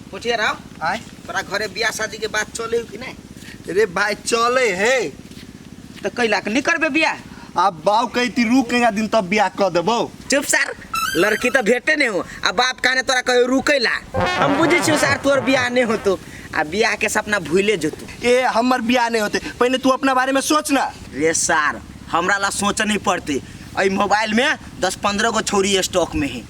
पोठिया राव आय तोरा घरे बियाह शादी के बात चले कि नहीं रे भाई चले हे तो कैला के नहीं करबे बियाह अब बाऊ कही ती रुकेगा दिन तब बियाह कर देबो चुप सर लड़की तो भेटे नहीं हो आ बाप कहने तोरा कहे रुकेला हम बुझे छी सर तोर बियाह नहीं होतो आ बियाह के सपना भूले जतू ए हमर बियाह नहीं होते पहले तू अपना बारे में सोच ना रे सर हमरा ला सोच नहीं पड़ते अई मोबाइल में दस पंद्रह गो छोरी स्टॉक में है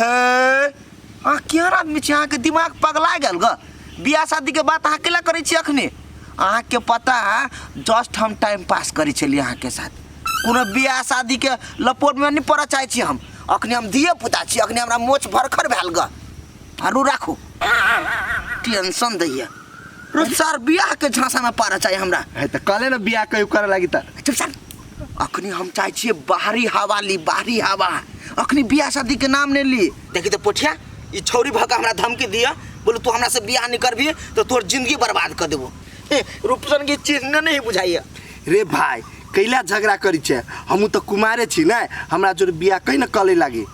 हे अहाँ केहन आदमी छी अहाँके दिमाग पगला गेल ग बियाह शादीके बात अहाँ केला करै छी अखने अहाँके पता है जस्ट हम टाइम पास करै छलियै अहाँके साथ कोनो बियाह शादीके लपोटमे नहि पड़ऽ चाहै छी हम अखने हम धिये पुता छी अखने हमरा मोछ भरखर भेल ग आरू राखू टेंशन दैया रोज सर बियाहके झाँसामे पड़ऽ चाही हमरा है त कले न बिया कयू करे लागी त चुप सर अखनी हम चाहे छिए बाहरी हवा ली बाहरी हवा अखनी बियाह शादी के नाम नहीं ली देखी तो पोठिया ई छौरी भका हमरा धमकी दिया बोलो तू हमरा से बियाह नहीं करबी तो तोर जिंदगी बर्बाद कर देबो ए, रूपसन की चीज ने नहीं बुझाइए रे भाई कैला झगड़ा करी छे हमू तो कुमारे छी ना हमरा जोर बियाह कहीं ना कले लागी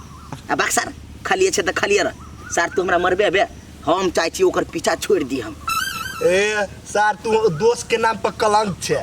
आ बाक सर खालिए छे तो खालिए रह सर तू हमरा मरबे बे हम चाहे छिए ओकर पीछा छोड़ दी हम ए सर तू दोस्त के नाम पर कलंक छे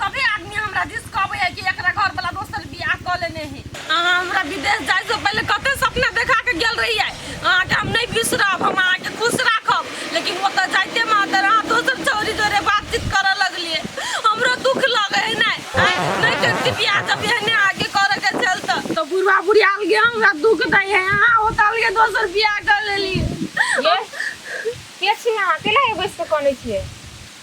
सभी आदमी हमरा दिस कहबै है कि एकरा घर वाला दोसर बियाह कऽ लेने है अहाँ हमरा विदेश जाय से पहिले कते सपना देखा के गेल रहियै अहाँके हम नहि बिसरब हम अहाँके खुश राखब लेकिन ओतऽ जाइते में अगर अहाँ दोसर छौरी जोरे बातचीत करऽ लगलियै हमरो दुख लगै है नहि आँय, नहि करती बियाह जब एहने आगे करऽ के छल तऽ तऽ बुढ़वा बुढ़ी अलगे हमरा दुख दै है अहाँ ओतऽ अलगे दोसर बियाह कऽ लेलियै के छियै अहाँ केला बैस कऽ कनै छियै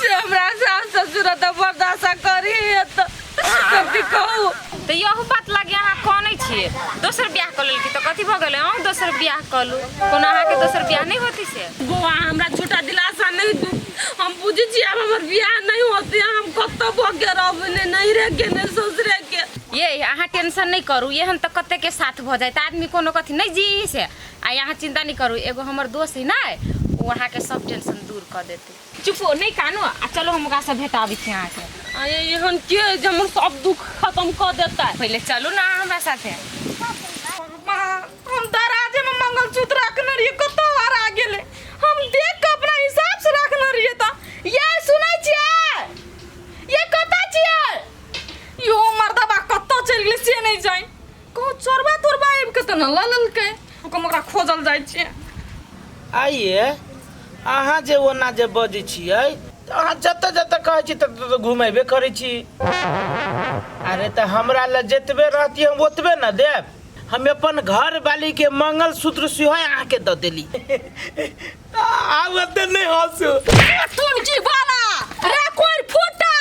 से हमरा सास ससुर तऽ बर्दाश्त करी तऽ सबके कहू तऽ यहू बात लागे अहाँ कनै छियै दोसर बियाह कऽ लेलकी तऽ कथी भऽ गेलै अहूँ दोसर बियाह कऽ लू कोनो अहाँके दोसर बियाह नहि होती से बौआ हमरा झूठा दिलासा नहीं दू हम बुझे छी अब हमर बियाह नहीं होते हम कत्तो भोगे रहब ने नहीं रे के ने ससुरे के ये अहाँ टेंशन नहीं करू एहन तऽ कते के साथ भऽ जाए तऽ आदमी कोनो कथी नहीं जी से आ अहाँ चिंता नहीं करू एगो हमर दोस्त है ना वो अहाँके सब टेंशन दूर कऽ देत चुप हो नहीं कानो आ चलो हम ओकरा से भेटाबी छी अहाँ के अरे एहन के है जे हमर सब दुख खत्म कर देता है पहले चलू ना अहाँ हमरा साथे माँ, हम दराजे में मंगलसूत्र रखने रहिए कत हरा गेले हम देख के अपना हिसाब से रखने रहिए त ये सुनै छियै ये कत छियै यो मर्दबा कत चल गेले से नहीं जाई कहो चोरबा तोरबा आबि के तऽ न लऽ लेलकै ओकर ओकरा खोजल जाइ छै आइए अहाँ जे ओना जे बजै छियै तऽ अहाँ जतऽ जतऽ कहै छी ततऽ ततऽ घुमेबे करै छी अरे तऽ हमरा लए जतबे रहती हम ओतबे ने देब हम अपन घर वाली के मंगलसूत्र सेहो अहाँके दऽ देली आवते नहीं हंसो सुन की बाला रे कोई फूटा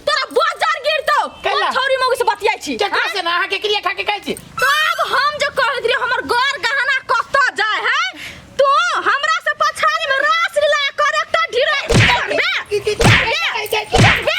तोरा बाजार गिरतो कैला? हम छोरी मौगी से बतियाई छी चक्कर से ना के क्रिया खा के कहै छी तो अब हम जो कहत रही हमर घर गहना कत जाय है तो हमरा से पछाड़ी में रास लीला कर एकटा ढीरे करबे करबे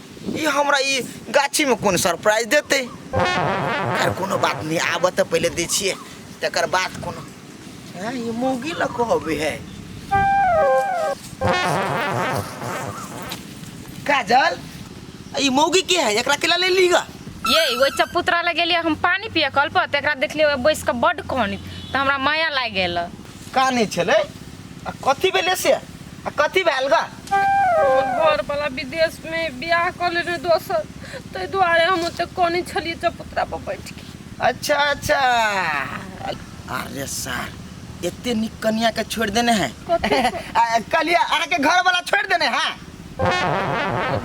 ई हमरा ई गाछीमे कोन सरप्राइज देतै आर कोनो बात नहि आबऽ तऽ पहिले दै छियै तकर बाद कोनो हँ ई मौगी लऽ कहबै है काजल ई मौगी के है एकरा केला ले ली गा ये ओहि चपुतरा लग गेलियै हम पानी पिए कल पर तऽ एकरा देखलियै ओहि बैस कऽ बड्ड कहनी तऽ हमरा माया लागि गेल काने छलै आ कथी भेलै से आ कथी भेल गा घरवला विदेशमे बियाह कऽ लेने दोसर ताहि दुआरे हम ओते कनी छलियै चपुतरा पर बैठ के अच्छा अच्छा अरे सर एते निक कनिया के छोड़ देने है कलिया अहाँ के घर वाला छोड़ देने है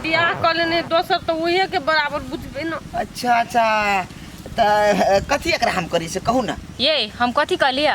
बियाह कऽ लेने दोसर तऽ उहे के बराबर बुझबे न अच्छा अच्छा तऽ कथी एकरा हम करी से कहू ना ये हम कथी कहलियै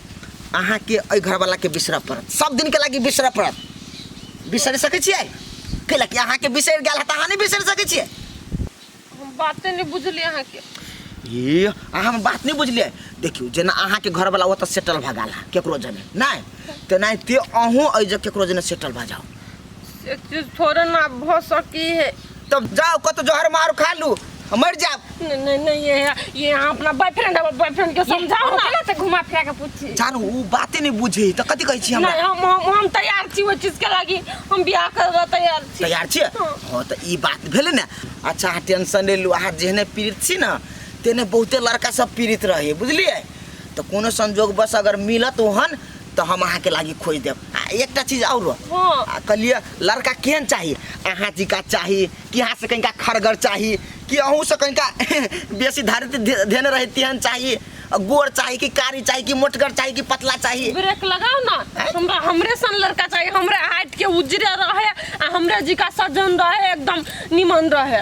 अहाँके एहि घरवलाके बिसरऽ पड़त सब दिनके लागि बिसरऽ पड़त बिसरि सकै छियै कैला कि अहाँके बिसरि गेल है तऽ अहाँ नहि बिसरि सकै छियै हम बाते नहीं बुझलिए अहाँ के ये अहाँ हमर बात नहि बुझलियै देखियौ जेना अहाँके घरवला ओतऽ सेटल भऽ गेल है केकरो जने नहि तेनाहिते अहूँ एहि जे केकरो जने सेटल भऽ जाउ एक चीज थोड़े ना भ सकी है तब जाओ कत जहर मार खा लू हम मर जाओ नहीं नहीं नहीं ये ये यहाँ अपना बॉयफ्रेंड है बॉयफ्रेंड के समझाओ ना ना से घुमा फिरा के पूछी जान ऊ बाते नहीं बुझे त कथी कहै छी हमरा नहीं हम हम हम तैयार छी वो चीज के लागी हम बियाह करे ला तैयार छी तैयार छी हाँ। हां त ई बात भेले ने अच्छा अहाँ टेंशन ले लू अहाँ जेहने पीड़ित छी ना तेने बहुते लड़का सब पीड़ित रहे बुझलिए त कोनो संजोग बस अगर मिलत ओहन तो हम अहाँ के लागी खोज देब आ एकटा चीज और हाँ। आ कहलिए लड़का केहन चाही अहाँ जी का चाही कि अहाँ से कनिका खरगर चाही कि अहूँ से कनिका बेसी धारित धे- धेने रहे तेहन चाही आ गोर चाही कि कारी चाही कि मोटगर चाही कि पतला चाही ब्रेक लगाओ ना हमरा हमरे सन लड़का चाहिए हमरे हाइट के उजरे रहे आ हमरे जी का सज्जन रहे एकदम निमन रहे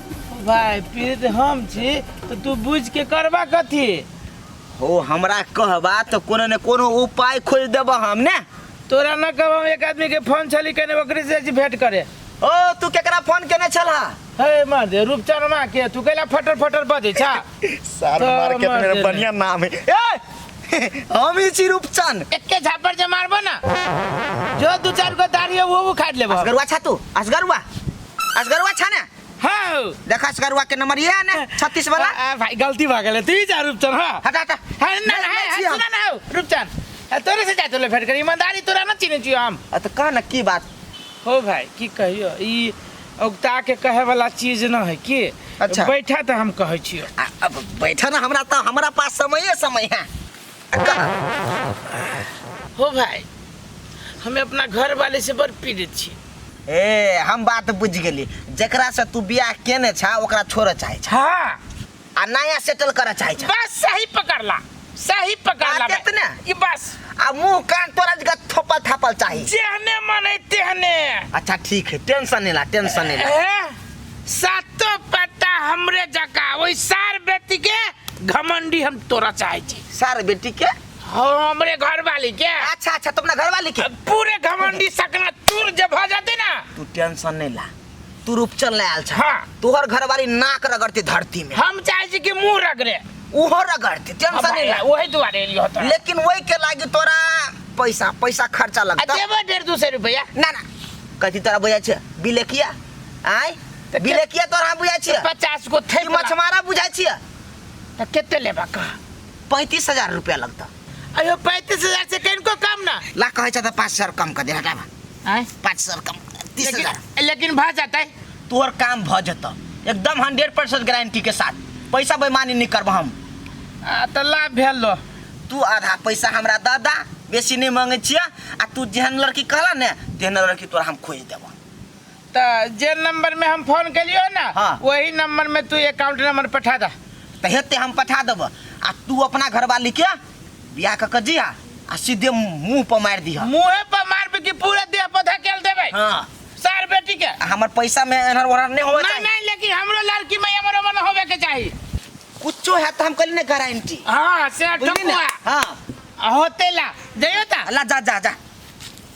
भाय पीड़ित हम छी तो तू बुझ के करबा कथी हो हमरा कहबा तो कोनो ने कोनो उपाय खोज देबा हम ने तोरा न कहब हम एक आदमी के फोन छली कने ओकरे से जी भेंट करे ओ तू केकरा फोन केने छला हे मार दे रूपचनमा के तू कैला फटर फटर बजे छा सर तो मार के मार मेरा देने। बढ़िया नाम है ए हम ही छी रूपचन एके झापर जे मारबो ना जो दू चार गो दाढ़ी है वो उखाड़ लेबो असगरुआ छा तू असगरुआ असगरुआ छा ने हाँ देखा असगरुआ के नंबर ये है ना छत्तीस वाला आ, आ, भाई गलती भा गेलै तू ही जा रूपचन हाँ हटा हटा हाँ, ना, ना, हाँ, छी हम। सुना ना हो, रूपचन आ, तोरे से जाते ले भेंट करी ईमानदारी तोरा ना चिन्है छियो हम अ, तो कह ना की बात हो भाई की कहियो ई औगता के कहे वाला चीज न है की अच्छा। बैठा तो हम कहै छियो आ, अब बैठा ना हमरा तो हमरा पास समय है समय है हो भाई हमें अपना घर वाले से बड़ पीड़ित छी ए हम बात बुझ गेली जकरा से तू बियाह केने छा ओकरा छोड़े चाहे छा हाँ आ नया सेटल करे चाहे छा बस सही पकड़ला सही पकड़ला बात भाई। इतने? ये बस आ मुंह कान तोरा जगह थोपल थापल चाही जेहने मन है तेहने अच्छा ठीक है टेंशन नहीं ला टेंशन नहीं ला हैं? सातो पत्ता हमरे जका ओइ सार बेटी के घमंडी हम तोरा चाहे छी सार बेटी के हमरे घर वाली के अच्छा अच्छा तुम ना घर वाली के पूरे घमंडी सकना चूर जब हो जाती ना तू टेंशन नहीं ला तू रूपचन ले आल छा हाँ। तोहर घर वाली नाक रगड़ती धरती में हम चाहे छी कि मुंह रगड़े उहो रगड़ती टेंशन नहीं ला वही दुआरे एलियो होता लेकिन वही के लागी तोरा पैसा पैसा खर्चा लगता देबो डेढ़ दू सौ रुपया ना ना कहती तोरा बुझा छे बिलेकिया आय तऽ के- गिरेकिया तोरा हम बुझाइ छियै पचास गो ई थैप ला। मछमारा बुझाइ छियै तऽ कते लेबा कह पैंतीस हजार रुपया लगतौ अयो पैंतीस हजार से कनिको कम ना ला कहै छ तऽ पाँच सौ कम कर दे हटाबा आय पाँच सौ कम तीस हजार लेकिन लेकिन भऽ जेतै तोहर काम भऽ जेतौ एकदम हंड्रेड परसेंट गारंटी के साथ पैसा बेमानी नहीं करब हम आ, तऽ लाभ भेल लो तू आधा पैसा हमरा दऽ दा बेसी नहीं मांगे छियै आ तू जेहन लड़की कहला ने तेहन लड़की तोरा हम खोज देबो त जे नंबर में हम फोन केलियो ना हाँ। वही नंबर में तू अकाउंट नंबर पठा दा तो हेते हम पठा देब आ तू अपना घरवाली के बियाह क के जिया आ सीधे मुंह पर मार दिया मुंहे पर मारबे कि पूरा देह पर धकेल देबे हाँ सार बेटी के आ हमर पैसा में एनहर ओनहर नहीं होवे नहीं चाहिए नहीं लेकिन हमरो लड़की में एमर ओमर न होवे के चाही कुछो है तो हम कल ने गारंटी हां से बुझली ना ठकुआ हाँ होते ला जइयो ता अल्लाह जा जा जा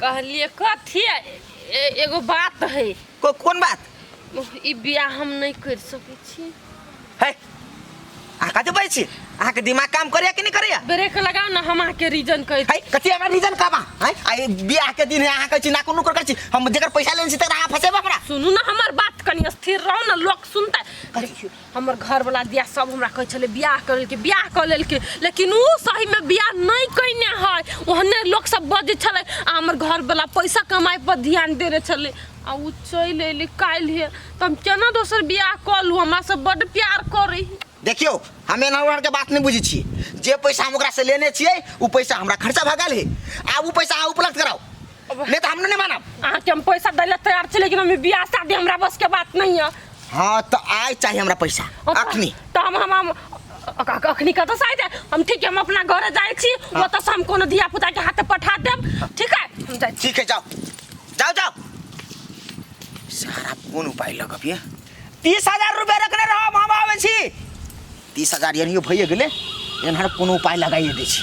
कहलिए कथी एगो बात है को, कोन बात ई बियाह हम नहीं कर सके छी है आका तो बैठी आहा के दिमाग काम करे कि नहीं करे ब्रेक लगाओ ना हम आहा के रीजन कह है कथी हमरा रीजन का बा है आई बियाह के दिन है आहा कह ना कोनो कर छी हम जेकर पैसा लेन छी त आहा फसेबा हमरा सुनू ना हमर बात कनी स्थिर रहो ना लोग सुनता देखियो हमर घरवला दिया सब हमरा कहै छलै बियाह कर लेलकै बियाह कर लेलकै लेकिन ओ सहीमे बियाह नहि कयने है ओहने लोक सब बजै छलै आ हमर घरवला पैसा कमाइ पर ध्यान देने छलै आ ओ चलि अयलै काल्हि तऽ हम केना दोसर बियाह कऽ लू हमरा से बड्ड प्यार करै है देखियो हम एना ओहर के बात नहीं बुझे छी जे पैसा हम ओकरा से लेने छिए उ पैसा हमरा खर्चा भऽ गेल है आ उ पैसा अहाँ उपलब्ध कराओ ले तो हमने नहीं माना अहाँ के हम पैसा दै ले तैयार छी लेकिन हम बियाह शादी हमरा बस के बात नहीं है हाँ तो आय चाहिए हमरा पैसा और तो- अखनी तो हम हम हम अ- अ- अखनी कतऽ से आइते हम ठीक है हम अपना घरे जाइ छी ओतऽ से हम कोनो धिया पुता के हाथे पठा देब ठीक है हम जाइ छी ठीक है जाओ जाओ जाओ सारा कौन उपाय लगब ये तीस हजार रुपया रखने रहो हम आवे छी तीस हजार यानी भैया गेले एनहर कोनो उपाय लगाइए दै छी